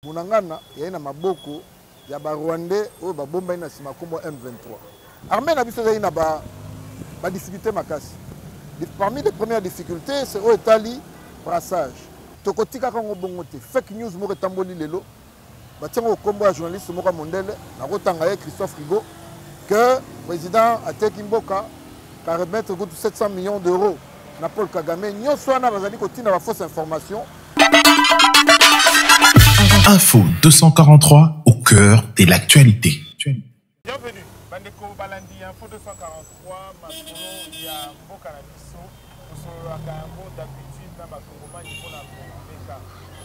Bunangana yaye na maboko ya ba Rwandais oyo babombani na sima kombo M23. Armée na biso ezali na ba ba difficultés makasi. Parmi les premières difficultés, c'est oyo etali brassage. Tokotikaka ngo bongo te. Fake news moko etamboli lelo. Batiango kombo ya journaliste moko mondele na kotanga ye Christophe Rigaud que président ateki mboka ka remettre kutu 700 millions d'euros na Paul Kagame nyoso wana bazali kotinda ba fausse information Info 243 au cœur de l'actualité. Bienvenue bandeko balandi ya Info 243 masolo ya mboka na biso tosololaka yango d'habitude na bakongomani mpo na komeka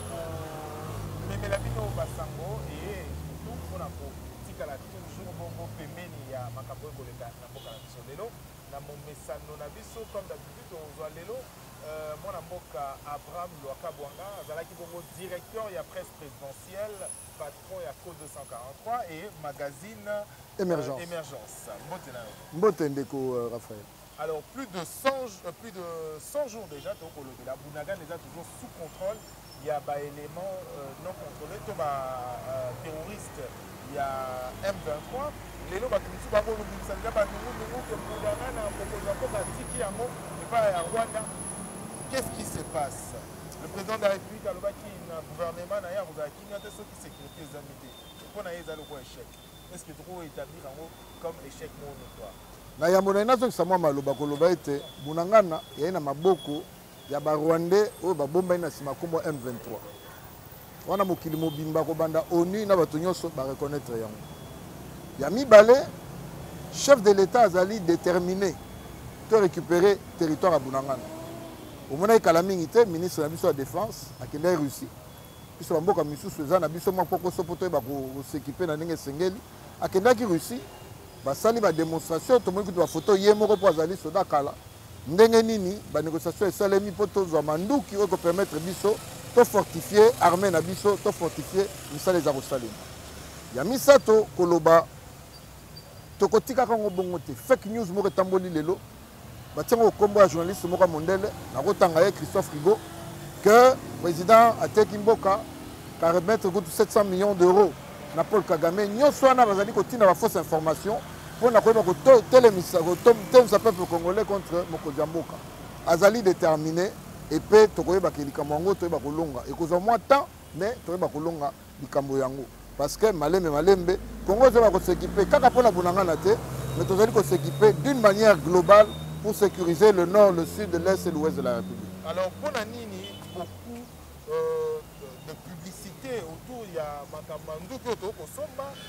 komemela bino basango eye surtout mpo na kotikala toujours bongo pembeni ya makambo oyo koleka na mboka na biso lelo na momesano na biso comme d'habitude tokozwa lelo euh, mwana mboka abraham lwakabwanga azalaki bongo directeur ya presse présidentielle patron ya co 243 et magazine euh, émergence, euh, émergence. mbote na yo mbote ndeko euh, raphaël alors plus de 100, euh, plus de 100 jours déjà tokolobela bunagan eza toujours sous contrôle ya ba element non controle to ba terroriste ya M23 lelo bato mosusu bakolobimisa nza banungunungu ke mbulangana mokonzi ya mboka atiki yango epai ya rwanda qu'est ce qui se passe le président de la république alobaki na gouvernement na ye akozala kimia te soki sécurité ezangi te mpo na ye eza lokola échec est ce que toko établir yango comme échec moko notoire na yambo na ye nazongisa mwa maloba koloba ete bunangana yai na maboko ya ba rwandais oyo babombani na nsima nkombo ya M23 wana mokili mobimba kobanda ONU na bato nyonso ba reconnaître yango ya mibale chef de l'État azali déterminé to récupérer territoire ya Bunangana omonaki kala mingi te ministre na biso ya défense akendaki Russie biso bamboka misusu eza na biso mwa kokoso mpo toyeba kosekipe na ndenge esengeli akendaki Russie basali ba demonstration tomoni kutu bafoto ye moko mpo azali soda kala ndenge nini banégociation esalemi mpo tozwa manduki oyo ekopermettre biso tofortifie armée na biso tofortifie misala eza kosalema ya misato koloba tokotikaka yango bongo te fake news moko etamboli lelo batie yango kombo ya journaliste moko ya mondele nakotanga ye christophe rigo que président ateki mboka ka remettre kutu 700 millions d'euros na paul kagame nyonso wana bazali kotinda bafausse information mpo na koyeba kotelemisa kotelemisa peuple congolais contre mokonzi ya mboka azali déterminé epe tokoyebaka likambo yango toyeba kolonga ekozwa mwa temps mais toyeba kolonga likambo yango parce que malembe malembe congo ezala kosekipe kaka mpo na bunangana te mais tozali kosekipe d'une manière globale pour sécuriser le nord le sud l'est et l'ouest de la république alors mpo na nini beaucoup euh, de publicité autour ya makambo ya nduki oyo tokosomba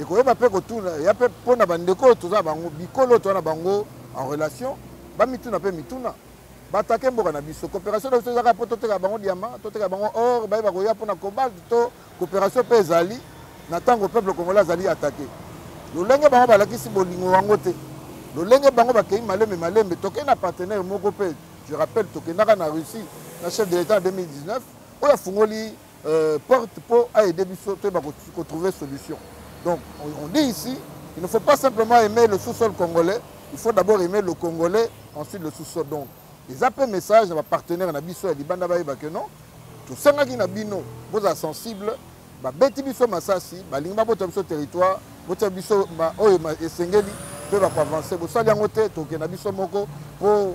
ekoyeba mpe kotuna ya mpe mpo na bandeko oyo toza na bango bikolo oyo toza na bango en relation bamituna mpe mituna batake mboka na biso coopération na biso ezaka mpo toteka bango diama toteka bango or baye bakoya mpo na cobalt to coopération mpe ezali na ntango peuple congolais azali atake lolenge bango balakisi bolingo yango te lolenge bango bakei malembe malembe tokei na partenaire moko mpe je rappelle tokendaka na russie na chef de l'état na 2019 oyo afungoli euh, porte po a aider biso to ba ko trouver solution donc on, on dit ici il ne faut pas simplement aimer le sous-sol congolais il faut d'abord aimer le congolais ensuite le sous-sol donc eza mpe message na bapartenaire na biso ya libanda bayeba ke non tosengaki na bino bozala sensible babeti biso masasi balingi babota biso territoire botia biso oyo esengeli mpe bakoavanse bosali yango te tokenda biso moko mpo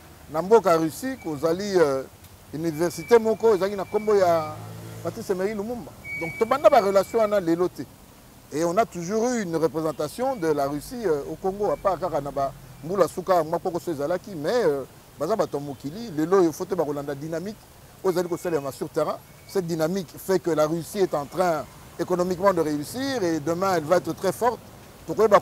Na mboka Russie kozali euh, universite moko ezalaki na nkombo ya Patrice Emery Lumumba. Donc tobanda ba relation wana lelo te. Et on a toujours eu une représentation de la Russie euh, au Congo à part kaka na ba mbula suka mwa poko so ezalaki mais euh, baza bato ya mokili lelo oyo faut te bakolanda dynamique oyo ezali kosalelama sur terrain cette dynamique fait que la russie est en train économiquement de réussir et demain elle va être très forte tokoyeba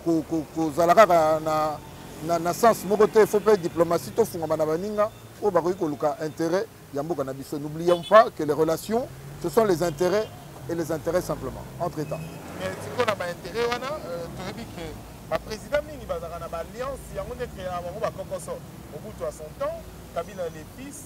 kozala kaka na, na, na sens moko te faut mpe diplomatie tofungama na baninga oyo bakoki koluka intérêt ya mboka na biso n'oublions pas que les relations ce sont les intérêts et les intérêts simplement entre états sikoyo na baintérêt wana euh, toyebi ke baprésident mingi bazalaka na baalliance yango nde ekreaka bango bakokoso mobutu à son temps kabila le fils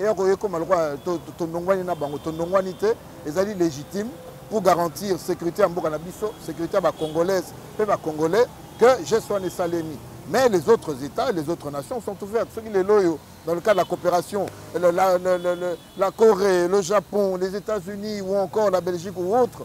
eya koya ekoma lokola tondongwani na bango tondongwani te ezali légitime pour garantir sécurité ya mboka na biso sécurité ya bacongolaise mpe bacongolais que geste wana esalemi mais les autres états les autres nations sont ouvertes soki lelo oyo dans le cas de la coopération la, la, la, la, la corée le japon les états unis ou encore la belgique ou autre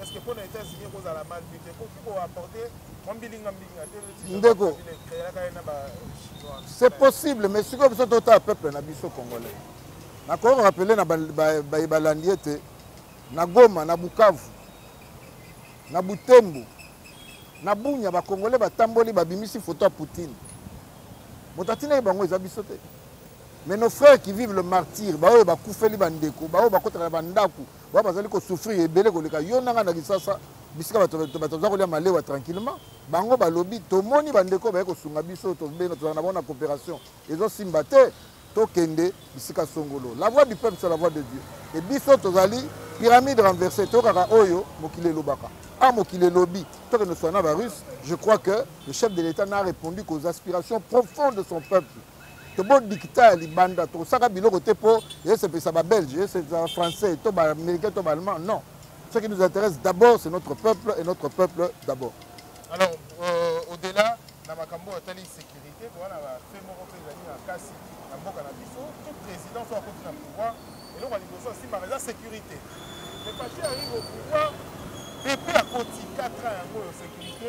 est-ce que pona États-Unis eko zala mal vu te koki ko apporter mwa mbilinga mbilinga te ndeko créaka ye na ba chinois c'est possible mais sikoyo biso totala peuple na biso congolais nakoki rappeler na baye balandi ete na Goma na Bukavu na Butembo na Bunya ba congolais batamboli babimisi photo ya Poutine moto atinaki bango eza biso te mais nos frères qui vivent le martyr baoyo bakufeli bandeko baoyo bakotaka na bandako ba bazali ko souffrir ebele koleka yo nanga na kisasa bisika bato baza kolia malewa tranquillement bango balobi tomoni bandeko baye kosunga biso tobenga tozala na bango na coopération ezosimba te tokende bisika songolo la voix du peuple sur la voix de dieu e biso tozali pyramide renversée toyokaka oyo mokili elobaka a ah, mokili elobi tokende swana barusse je crois que le chef de l'état n'a répondu qu'aux aspirations profondes de son peuple tobo dikita ya libanda tokosaka biloko te mpo esepelisa babelge esepelisa français to baaméricain to baallemand non ce qui nous intéresse d'abord c'est notre peuple et notre peuple d'abord alors euh, au-delà na makambo oyo etali sécurité towana bafe moko mpe ezali na kasi na mboka na biso tout président so akoti na pouvoir eloko ya liboso asimbaka eza sécurité mais pache arrive au pouvoir epe akoti 4 ans yango oyo sécurité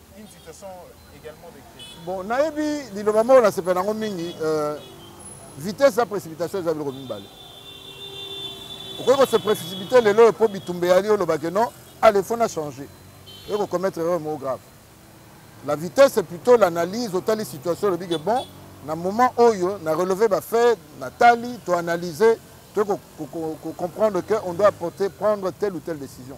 une situation également de crise. Bon, nayebi liloba moko nasepela nango mingi euh, vitesse ya précipitation eza biloko mibale okoki kose précipité lelo oyo mpo bitumba eyali olobake non ale ah, fo na change oyo kocommettre erreur moko grave la vitesse c'est plutôt l'analyse otali situation olobi ke bon na moment oyo na relever bafait natali toanalyse to kocomprendre que on doit porter, prendre telle ou telle décision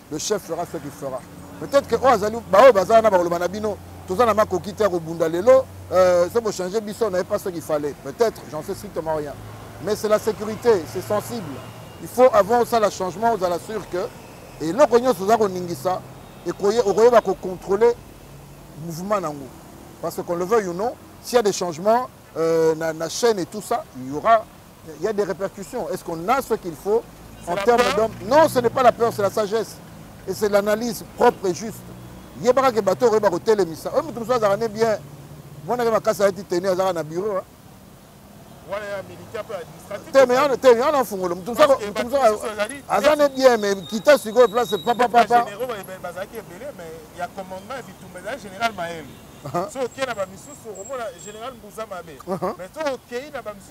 le chef fera ce qu'il fera peut-être que oyo oh, azali baoyo baza wana bakoloba na bino toza na makoki te ya kobunda lelo euh, se bochange biso naye pas ce qu'il fallait peut-être j'en sais strictement rien mais c'est la sécurité c'est sensible il faut avant osala changement ozala sûr que eloko nyonso oza koningisa okoyeba kocontrôler mouvement na yango parce que qu'on le veuille ou non s'il y a des changements euh, na, na chaîne et tout ça il y aura Il y a des répercussions. Est-ce qu'on a ce qu'il faut en termes d'homme Non, ce n'est pas la peur, c'est la sagesse. Et c'est l'analyse propre et juste. Il y a des bateaux qui ont été mis. Eux, tout ça, ça bien. Moi, je suis à été tenu dans un bureau. te me yana te yana afungola moto mosusu moto mosusu aza ne bien me kita sikoyo place papa papa bazalaki ebele me ya commandement ya bitumba ezali général maele so okei na bamisusu okomona général mbuza mabe me so okei na bamisusu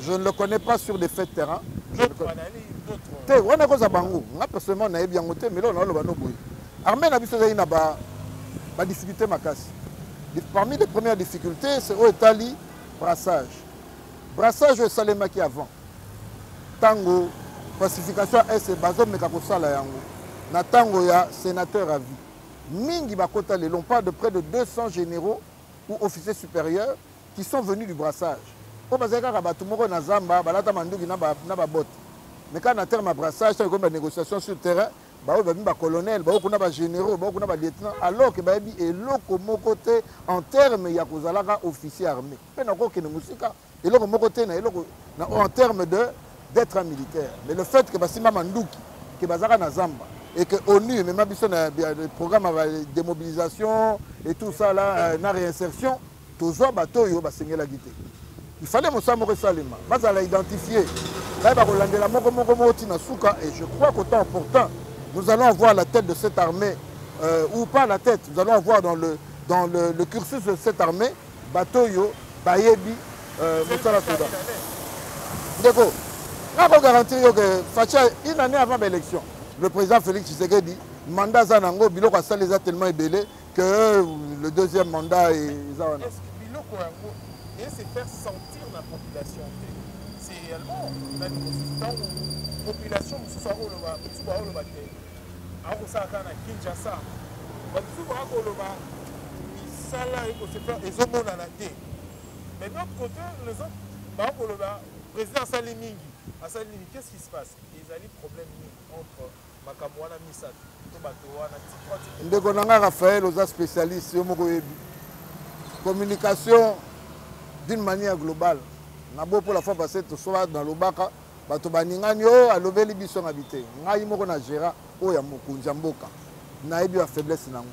je ne le connais pas sur des faits de terrain te wana ekozala bango nga personnellement nayebi yango te melo naoloba no boye armée na biso ezali na badifficulté makasi parmi les premières difficultés c'est oyo etali brassage brassage oyo esalemaki avant ntango pacification ya ese bazomeka kosala yango na ntango ya sénateur à vie mingi bakota lelo on parle de près de 200 généraux ou officiers supérieurs qui sont venus du brassage oyo bazali kaka bato moko na zamba balata manduki na babote mais kaka na terme ya brassage ntango ekomi banégociation sur terrain baoyo babi bacolonel baoyo kuna bagénéraux baoyo kuna balieutenant alors ke bayebi eloko moko te en terme ya kozalaka officier armé mpe nakokende mosika eloko moko te na eloko en terme de d'être un militaire mais le fait ke basimba manduki ke bazalaka na zamba et que onu emema biso na programme ya démobilisation et tout ça là euh, na réinsertion tozwa bato oyo basengelaki te ifale mosala moko esalema bazala identifie baye bakolandela moko moko moko ti na suka et je crois qu'au temps opportun nous allons avoir la tête de cette armée euh, ou pas la tête nous allons avoir dans le, dans le, le cursus de cette armée bato oyo bayebi euh, mosala soda ndeko nako garantir yo ke facha une année avant baélection le président félix tshisekedi mandat aza na yango biloko asali eza tellement ebele que le deuxième mandat eza wana biloko yango ese faire sentir na population te c'est réellement nani mosusu ntango population mosusu akoloba mosusu bakoloba te akosala kaka na kinshasa basusu bakoloba misala ekosefere ezomonana te mais d'autre côté les autres bakoloba président asali mingi asali nini qu'est ce qui se passe ezali problème nini entre makambo wana misato to bato wana ndeko na ngai rafael oza spécialiste yo moko oyebi communication d'une manière globale na bo mpo la fois passé tosola nalobaka bato baningani oyo oh, alobeli biso na bite ngai moko na géra oyo ya mokonzi ya mboka nayebi bafaiblesse na yango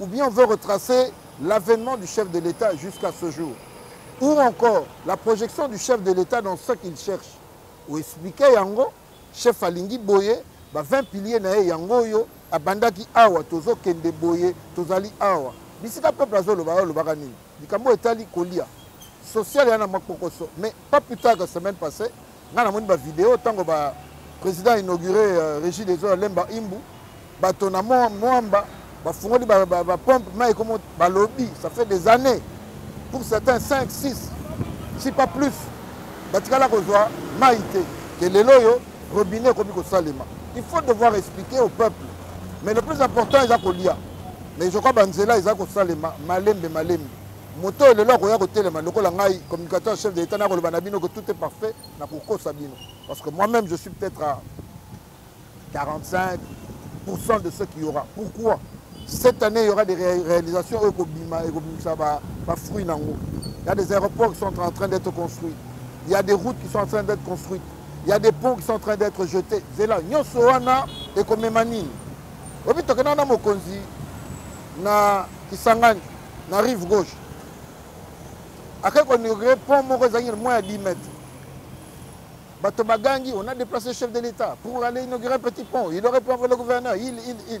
Ou bien on veut retracer l'avènement du chef de l'État jusqu'à ce jour. Ou encore la projection du chef de l'État dans ce qu'il cherche. Ou expliquer yango, chef alingi boye, ba 20 piliers na ye yango yo, abandaki awa, tozo kende boye, tozali awa. Bisika peuple azoloba, olobaka nini? likambo etali kolia social ya na mwa kpokoso mais pas plus tard que semaine passée ngai namoni bavideo ntango ba président inauguré euh, régie des eaux ya lemba imbu bato na mwamba bafungoli bapompe mai ekomo balobi ça fait des années pour certains 5 6 si pas plus batikala kozwa mai te ke lelo oyo robinet ekomi kosalema il faut devoir expliquer au peuple mais le plus important eza kolia mais je crois banzela eza kosalema malembe malembe moto oyo lelo akoya kotelema lokola ngai communicateur chef de l'état nakoloba na bino que tout est parfait nakokosa bino parce que moi même je suis peut-être à 45 de ce qu'il y aura pourquoi cette année il y aura des réalisations oyo ekobima ekobimisa bafruit na yango il y a des aéroports qui sont en train d'être construits il y a des routes qui sont en train d'être construites il y a des ponts qui sont en train d'être jetés zela nyonso wana ekomema nini oyebi tokenda na mokonzi na kisangani na rive gauche akei koinaugurer pont moko ezangi na mwa ya 10 mètres bato bagangi on a déplacé chef de l'état pour aller inaugurer un petit pont il aurait pu envoyer le gouverneur il il il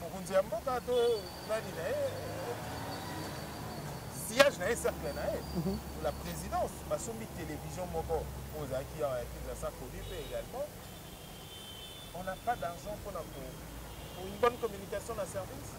mokonzi ya mboka to nani na ye sillage na ye cercle na ye mhm. la présidence basombi télévision moko oyo ozalaki awa ya kinzasa connu mpe également on n'a pas d'argent mpona ko une bonne communication na service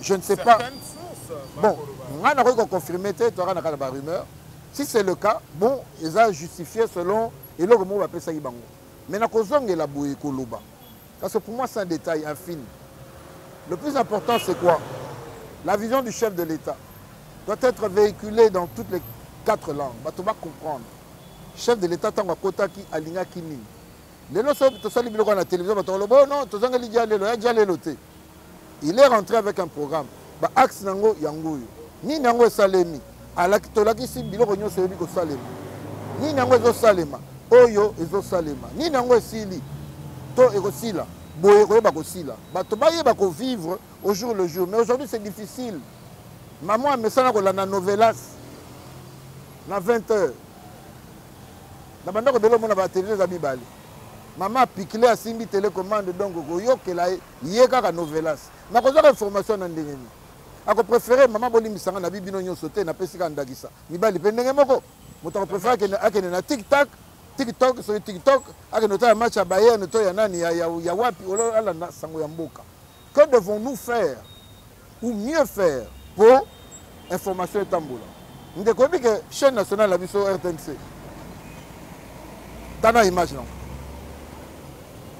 je ne sais pas bon ngai nakoki koconfirme te toyaka na kaka ba rumeur si c'est le cas bon eza justifié selon eloko moko bapesaki bango mais nakozongela boye koloba parce que pour moi c'est un détail infime le plus important c'est quoi la vision du chef de l'état doit être véhiculée dans toutes les quatre langues bato bacomprendre chef de l'état ntango akotaki alingaki nini lelo soki tosali biloko na télévision bato koloba oh non tozongeli jalelo ya jalelo te il est rentré avec un programme ba axe na yango yango oyo nini yango esalemi alaki tolakisi biloko nyonso eyebi kosalema nini yango ezosalema oyo ezosalema nini yango esili to ekosila boye koyeba kosila bato bayeba kovivre au jour le jour mais aujourd'hui c'est difficile mama amesana kolanda novelas na 20 heures na bandako ebele omona batele eza mibale mama apikile asimbi telecommande donc koyokela ye ye kaka novelas nakozwaka information na ndenge nini akoprefere mama bolimbisa nga nabi bino nyonso te napesi kaka ndakisa mibali mpe ndenge moko moto akoprefere akende, akende na tiktak tiktok soki tiktok akende otala match ya bayerne to ya nani ya, ya, ya wapi ololala na sango ya mboka que devons nous faire ou mieux faire po information etambola ndeko oyebi ke chaîne nationale na biso rtnc tana image nango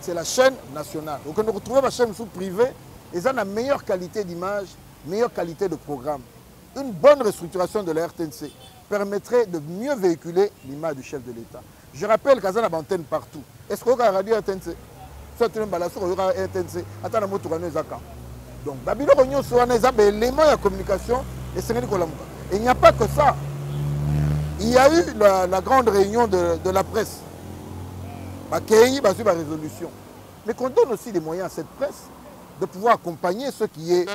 c'est la chaîne nationale okende kotrouve bachaîne mosusu privé eza na meilleure qualité d'image meilleure qualité de programme une bonne restructuration de la rtnc permettrait de mieux véhiculer l'image du chef de l'état Je rappelle kaza na bantenne partout. Est-ce que oyoka radio RTNC? Soit tu mbala soko oyoka RTNC ata na motuka no eza ka. Donc ba biloko nyonso wana eza ba éléments ya communication esengeli kolamuka. Il n'y a pas que ça. Il y a eu la, la grande réunion de, de la presse. Bakei bazui ba résolution. Mais qu'on donne aussi des moyens à cette presse de pouvoir accompagner ce qui est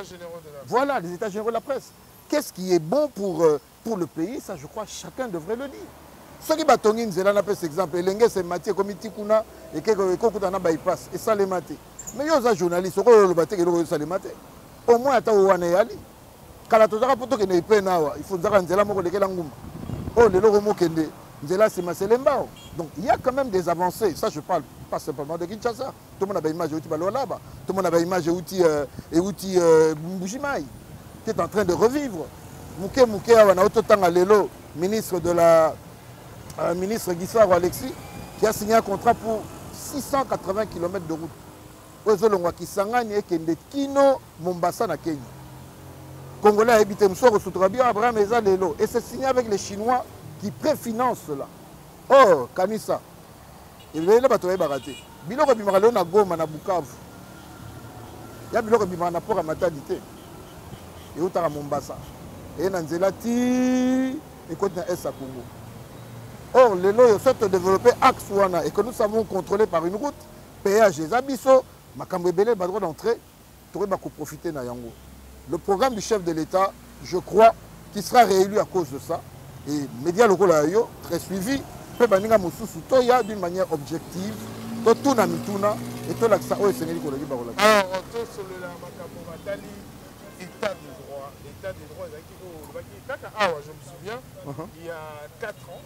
voilà les états généraux de la presse. Qu'est-ce qui est bon pour euh, pour le pays ça je crois chacun devrait le dire soki batongi nzela napesa exemple elenge semati ekomi ti kuna ekokuta na bypass esalema te mais yo oza journaliste okoyo oloba te eloko esalema te au moins ata oyo wana eyali kala tozaka mpo tokende epene awa ifunzaka nzela moko lekela nguma oyo oh, lelo okomokende nzela nsima selembao donc il y a quand même des avancées ça je parle pas simplement de kinshasa tomona ba image euti balolaba tomona ba image euti euh, euti euh, mbuji mai qui est en train de revivre moke moke awa na ototanga lelo ministre de la euh, ministre gisaro alexis qui a signé un contrat pour 680 km de route oyo ezolongwa kisangani ekende kino mombasa na kenya congolais ayebi te mosusu akosutuka bio abraham eza lelo et c'est signé avec les chinois qui préfinance cela or oh, kanisa ebele na bato bayebaka te biloko ebimaka lelo na goma na bukavu ya biloko ebimaka na port ya matadi te eutaka mombasa eye na nzela ti ekoti na est ya congo or lelo oyo soki todeveloppe axe wana ekonusamo contrôlé par une route péage eza biso makambo ebele bato ko na entrée tokoyeba ko profiter na yango le programme du chef de l'État je crois qui sera réélu à cause de ça et média lokola yo très suivi mpe baninga mosusu toya d'une manière objective totuna mituna e tolakisa oyo esengeli koleki bakolakisa ah, oh, tosolola makambo matali état de droit état de droit ezalaki oyo olobaki kaka awa je me souviens uh-huh. il y a 4 ans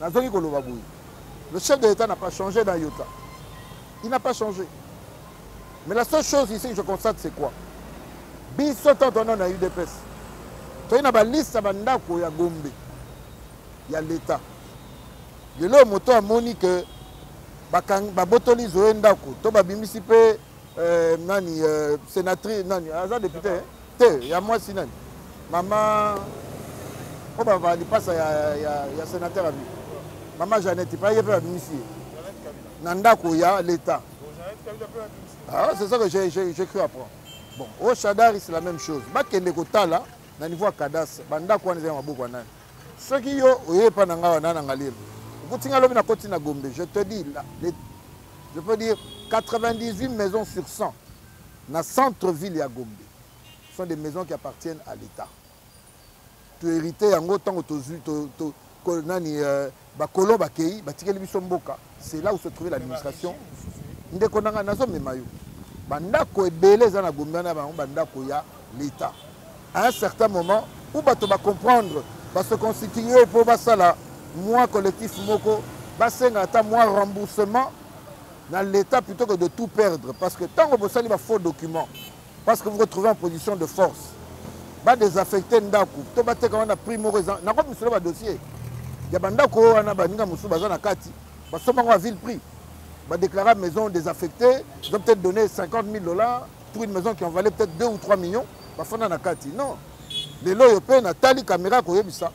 nazongi koloba boye le chef de l'état n'a pas changé dans yota il n'a pas changé mais la seule chose ici que je constate c'est quoi biso ntango twana na udps toyei na baliste ya bandako ya gombe ya leta lelo moto amoni ke babotoli zoye ndako to babimisi mpe euh, nani euh, sénatrice nani aza député hein? te ya mwasi nani mama oyo bavaa lipasa ya, ya, ya sénateur abi mama janete pa ye mpe babimisi ye na ndako ya l'état ah, c'est ça que j'écris après bon au oh, shadari c'est la même chose bakende kotala na niveau ya cadastre bandako wana eza ya maboko ya nani soki yo oye epa na ngai wana na ngalelo okuti ngai lobi nakoti na gombe je te dis je peux dire 98 maisons sur 100 na centre ville ya gombe sont des maisons qui appartiennent à l'état tohérite yango ntango tozwi to, to, to, nani euh, bakolo bakei batikeli biso mboka c'est là où se trouvait l'administration ndeko na ngai nazomema yo bandako ebele eza na gombe wana bango bandako ya l'etat à un certain moment ou bato ba comprendre ba se constituer mpo basala mwa collectif moko basenga ata mwa remboursement na l'etat plutôt que de tout perdre parce que ntango bosali ba faux documents parce que vous retrouvez en position de force ba désaffecte ndako to bateka wana prix moko eza nakomi misolo ba dossier ya bandako oyo wana baninga mosusu baza na kati basomba yango ya ville prix badéclara maison désaffectée ils ont peut-être donné 50 000 dollars pour une maison qui en valait peut-être 2 ou 3 millions bafanda na kati non lelo oyo mpe natali kamera koyebisa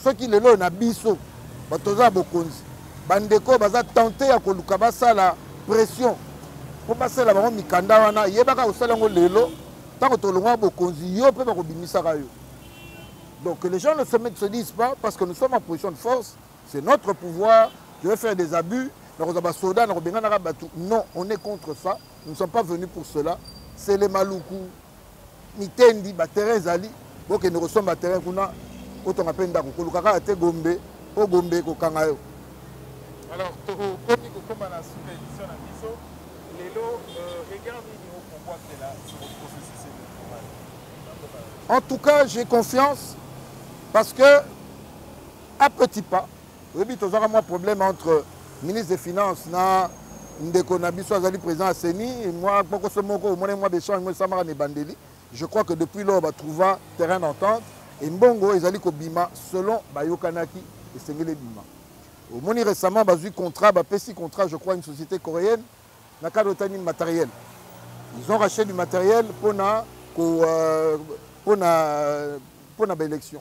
soki lelo oyo na biso bato toza ya bokonzi bandeko oyo baza tente ya koluka basala pression mpo basala bango mikanda wana yebaka kosala yango lelo ntango tolongwa bokonzi yo mpe bakobimisaka yo donc les gens ne se, se disent pas parce que nous sommes en position de force c'est notre pouvoir je vais faire des abus nakozwa basoda nakobenganaka bato non on est contre ça nous ne sommes pas venus pour cela sele maluku mitendi baterrain ezali bokende kosomba terrain kuna otonga mpe ndako koluka kaka te gombe mpo gombe ekokanga yo alors tokomi kokoma na suka édition na biso lelo euh, regard nini okobwakela processus électoral en tout cas j'ai confiance parce que à petit pas oyebi tozwaka mwa problème entre ministre des finances na ndeko na biso azali président ya ceni mwa kpokoso moko omonani mwa bechange moko esamaka na ebandeli je crois que depuis lors batrouva terrain d'entente e mbongo ezali kobima selon bayokanaki esengeli ebima omoni récemment bazwi contrat bapesi contrat je crois une société coréenne na cadre etani matériel ils ont racheté du matériel mpona mpona mpona baélection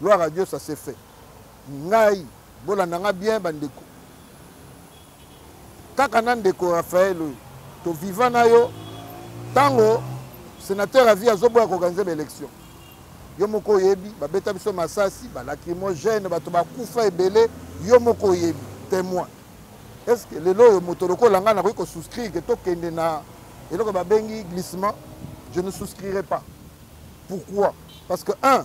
Gloire à Dieu ça se fait. Ngai bolanda nga bien ba ndeko. Kaka na ndeko Raphaël oyo to viva na yo tango sénateur avi azoboya koorganize baélection yo moko oyebi babeta biso masasi balacrimogène bato bakufa ebele yo moko oyebi témoin est ce que lelo oyo moto lokola ngai nakoki kosouscrire ke tokende na eloko babengi glissement je ne souscrirai pas pourquoi parce que un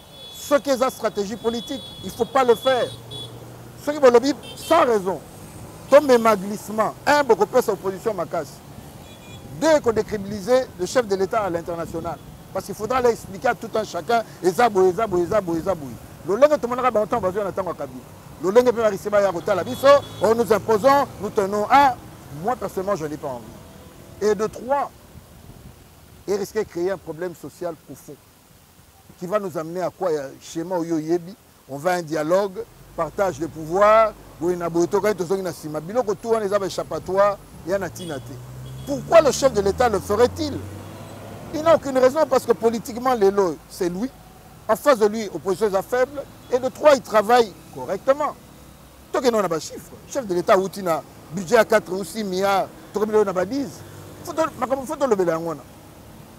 soki eza stratégie politique il faut pas le faire soki bolobi sans raison tomema glissement un bokopesa opposition makasi deux kodécribiliser le chef de l'état à l'international parce qu'il faudra leur expliquer à tout un chacun eza boye eza boye eza boye eza boye lolenge tomonaka bango ntango bazwi na ntango ya kabila lolenge mpe barise baya kotala biso oh, nous imposons nous tenons à moi personnellement je n'ai pas envie et de trois et risquer créer un problème social profond qui va nous amener à quoi ya schéma oyo oyebi on va un dialogue partage de pouvoir boye na boye tokani tozongi na nsima biloko tu wana eza baéchappatoire ya na ntina te pourquoi le chef de l'état le ferait-il il n'a aucune raison parce que politiquement lelo c'est lui en face de lui opposition eza faible et de trois il travaille correctement tokende na bachiffre chef de l'état awuti na budget ya 4 ou 6 milliards tokomi lelo na ba 10 makambo fo tolobela yango wana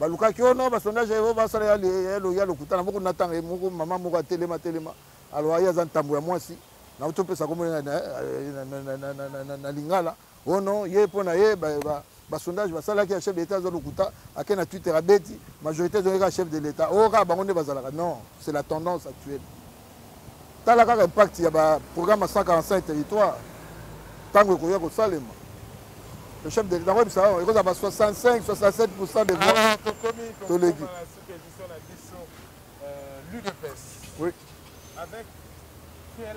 balukaki oyo na basondage ya yehova asala ya lokuta na moko natanga ye moko mama moko atelema telema aloa ye aza ntambo ya mwasi nauti opesa kombo na lingala ono ye mpo na ye basondage basalaki ya chef de l'état aza lokuta ake na twitter abeti majorité ezongi kaka chef de l'état oyo oh, kaka bango nde bazalaka non c'est la tendance actuelle tala kaka impact ya ba programme 145 territoire ntango ekoya kosalema le chef de l'etat koyebisa yango ekozala ba 65 67 pourcent de voix ah, toleki euh, oui. avec quel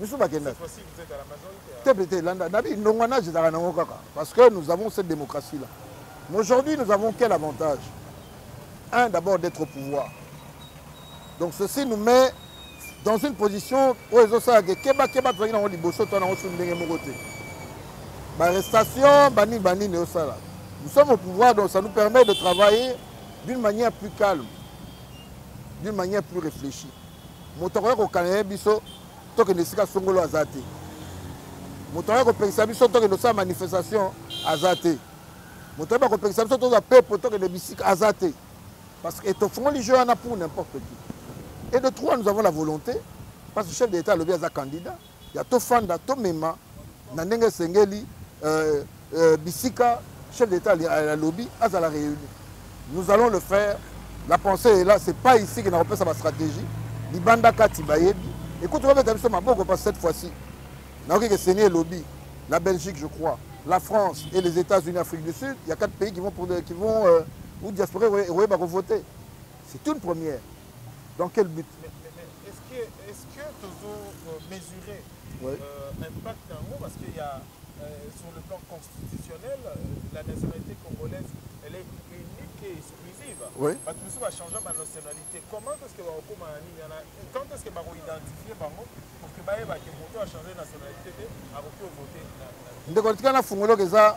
misusu bakenda te mpe te landa nabi ndongwanage ezalaka nango kaka parce que nous avons cette démocratie là mais aujourd'hui nous avons quel avantage un d'abord d'être au pouvoir donc ceci nous met dans une position oyo ezosala ke kebakeba tozalaki nango liboso to nango sunu ndenge moko te barestation banini banini osala nous sommes au pouvoir donc ça nous permet de travailler d'une manière plus calme d'une manière plus réfléchie moto akoya kokana ye biso tokende esika songolo aza te moto akoya kopekisa biso tokende osala manifestation aza te moto ayeba kopekisa biso toza pepo tokende bisika aza te parce que tofungoli jeu wana pour n'importe qui et de trois nous avons la volonté parce que chef de l'état alobi aza candidat ya tofanda tomema na ndenge esengeli euh, euh, bisika chef d'état alobi azala réuni nous allons le faire la pensée est là c'est pas ici que nakopesa bastratégie libanda kati bayebi ekuti kobeta biso maboko parce cette fois-ci nayoki ke seni elobi la belgique je crois la france et les états-unis afrique du sud il y a quatre pays qui vont, pour, qui vont euh, ou diaspora ekoyeba kovote c'est une première dans quel but mais, mais, mais, est-ce que est-ce que tozo euh, mesurer ouais. euh, impact yango parce qu'il y a euh, sur le plan constitutionnel euh, la nationalité congolaise elle est unique et exclusive oui. bato mosusu bachangea banationalité comment est-ce que bakokoma na nini wana quand est-ce que bakoidentifie bango pour que bayebake moto achange nationalité te akoki ovote ndeko tika na fungoloka eza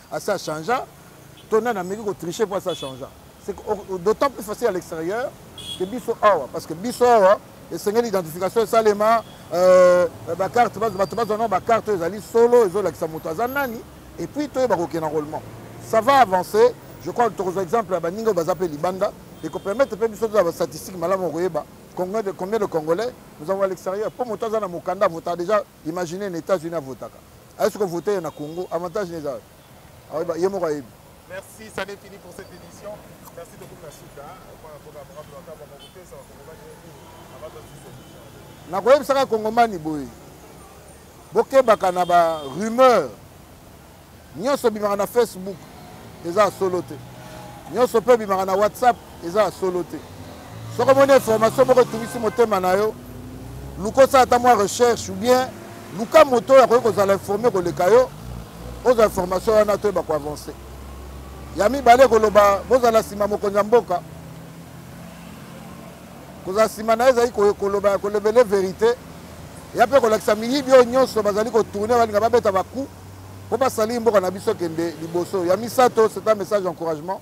asi a changea to nani ameki kotriche mpo asi a changea c'est d'autant plus facile à l'extérieur que biso awa parce que biso awa esengeli identification esalema euh, bacarte bato bazwa nao bacarte oyo ezali solo ezolakisa moto aza nani et puis toyeba kokenda enrôlement ça va avancer je crois tokozwa exemple ya baninga oyo baza mpe libanda ekopermettre mpe biso tozala bastatistique malamu okoyeba combien de congolais nous avons à l'extérieur mpo moto aza na mokanda avota déjà imagine na états-unis avotaka aye soki vote ye na congo avantage neza ayeba ye moko ayebi merci ça n'est fini pour cette édition merci de beaucoup suka nakoyebisaka kongomani boye bokebaka na ba rumeur nyonso bimaka na facebook eza solo te nyonso mpe bimaka na whatsapp eza ya solo te soki omoni information moko etungisi motema na yo luka osala ata mwa recherche ou bien luka moto oyo akoki kozala informe koleka yo ozwa information wana toyeba koavance ya mibale koloba bozala nsima mokonzi ya mboka kozala nsima na ye ezali koloba kolobele verité ya mpe kolakisa miyibi oyo nyonso bazali kotourne balinga babeta baku mpo basalii mboka na biso kende liboso ya misato c'est un message encouragement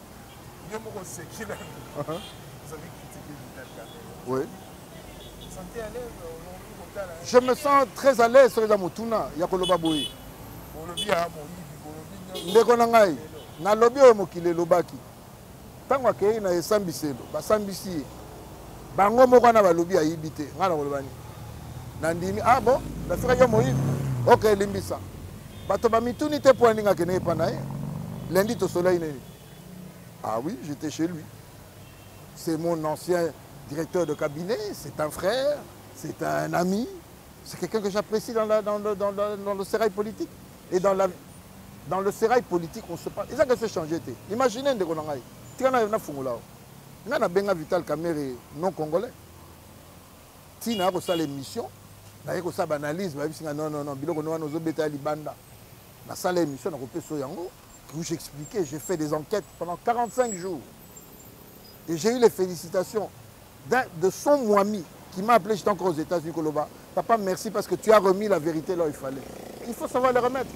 Yo moko oseki na ozali critiquer Vital Kamerhe. Oui. Santé à l'aise olobi kotala. Je me sens très à l'aise soki eza motuna ya koloba boye. Olobi ya moyibi, olobi nyonso. Ndeko na ngai, nalobi oyo mokili elobaki. Ntango akei na esambiselo, basambisi ye. bango moko wana balobi ayibi te ngai nakoloba nini nandimi ah bon nafikaki yo moyibi ok elimbisa bato bamituni te mpo aninga akende epa na ye lundi tosolai nini ah oui j'étais chez lui c'est mon ancien directeur de cabinet c'est un frère c'est un ami c'est quelqu'un que j'apprécie dans, la, dans, le, dans, le, dans le sérail politique et dans, la, dans le sérail politique on se parle eza kese changer te imagine ndeko na ngai tika nayo nafungola nga na benga vital kamere non congolais ti naya kosala émission naye kosala baanalyse bayebisi nga non non non biloko no wana ozobeta ya libanda nasala émission nakopesa yango où j'expliquais j'ai fait des enquêtes pendant 45 jours et j'ai eu les félicitations de son moimi qui m'a appelé j'étais encore aux états-unis koloba Papa, merci parce que tu as remis la vérité là où il fallait. Il faut savoir le remettre.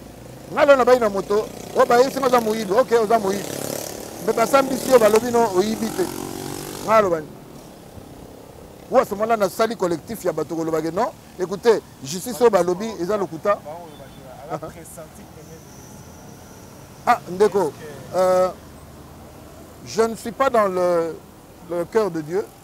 Nga lona bayi na moto, o bayi sima za moyibi, ok, oza moyibi. Mais basambi sio balobi no oyibi te. Nga lobani. Ou à ce moment-là, na sali collectif ya bato kolobaki non. Écoutez, justice oyo balobi eza lokuta. Ah, ndeko, euh, je ne suis pas dans le, le cœur de Dieu.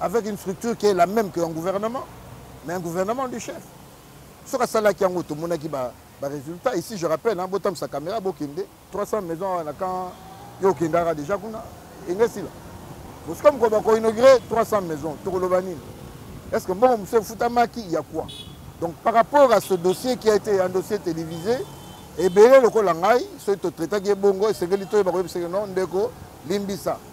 avec une structure qui est la même que un gouvernement mais un gouvernement du chef soki asalaki yango tomonaki ba, ba résultat ici je rappelle hein, botamisa caméra bokende 300 maison awa na camp yo okendaka déjà kuna engesila bosika mokolo bakoinaugure 300 maison tokoloba nini est ce que mbongo mosusu efutamaki ya quoi donc par rapport à ce dossier qui a été un dossier télévisé ebele lokola ngai soki totraitaki ye bongo esengeli toyeba koyebisaki non ndeko limbisa